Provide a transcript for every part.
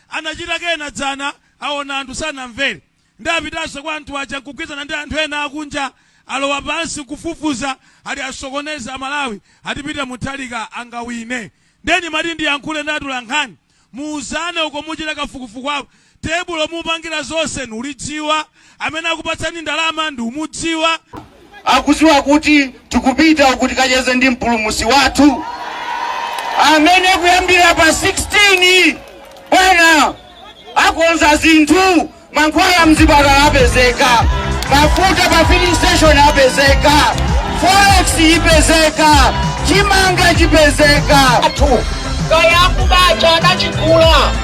anachita kena dzana aona anthu sanamvere nde apitanso kwa anthu aja nkugwizana ndi anthu ena akunja alowa pansi nkufufuza ati asokoneze amalawi ati peter mutharika angawine nde ndimati ndiyankhule ndi atolankhani muuzane uko muchita kafukufuku wako tebulo mupangira zonse nulidziwa Amene akupatsani ndalama ndiumudziwa? Akuziwa kuti tikupita uku tikacheze ndi mpulumusi wathu amene kuyambira pa 16 bwana akonza zinthu mankhwala mzipatala apezeka mafuta pa filling station apezeka forex ipezeka chimanga chipezeka athu kaya akuba aja anachigula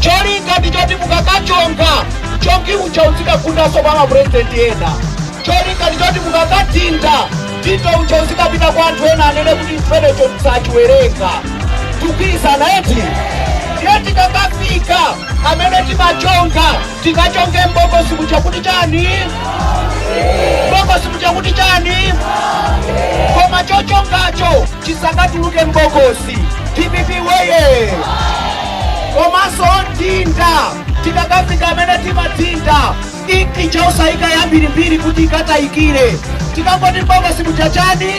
cholinga ndi choti mukakachonga chongi uja uzikagundanso kwa mapurezidenti ena cholinga ndi choti mukakadinda dindo uja uzikapita kwa anthu ena anene kuti chimenecho tisachiwerenge tikugwirizana eti ndiye tikakafika amene timachonga Tikachonge m'bokosi muja kuti chani? M'bokosi muja kuti chani? Koma chochongacho chisakatuluke m'bokosi. Dpp woyee! Komanso odinda tikakafika amene timadinda inki ija osayika yambirimbiri kuti ikatayikire. Tikangoti m'bokosi muja chani?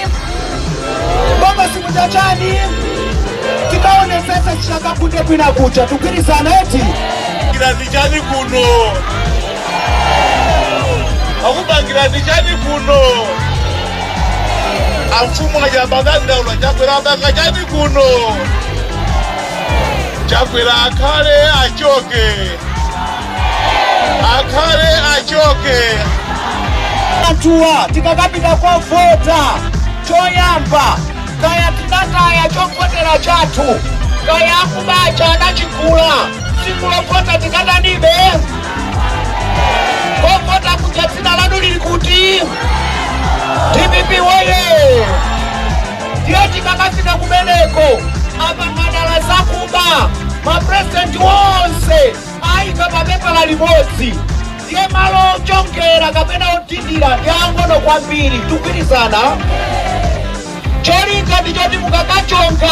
M'bokosi muja chani? Tikaonetsetse chisakagunde kwina kuja. Tikugwirizana eti? chani kuno akupangirani chani kuno amfumu aja amadandaula chakwera apanga chani kuno chakwera akhale achoke akhale achoke atuwa tikakapita kovota choyamba kaya tinataya chovotera chathu kaya akuba aja anachigula tsiku lovota tikatanibe kovota kuja dzina lanu lili kuti dpp woye ndiye tikakafika kumeneko apanga dala zakuba maprezidenti wonse ayika papepala limodzi ndiye malo ochongera kapena odindira ndi ang'ono kwambiri tikugwirizana cholinga ndi choti mukakachonga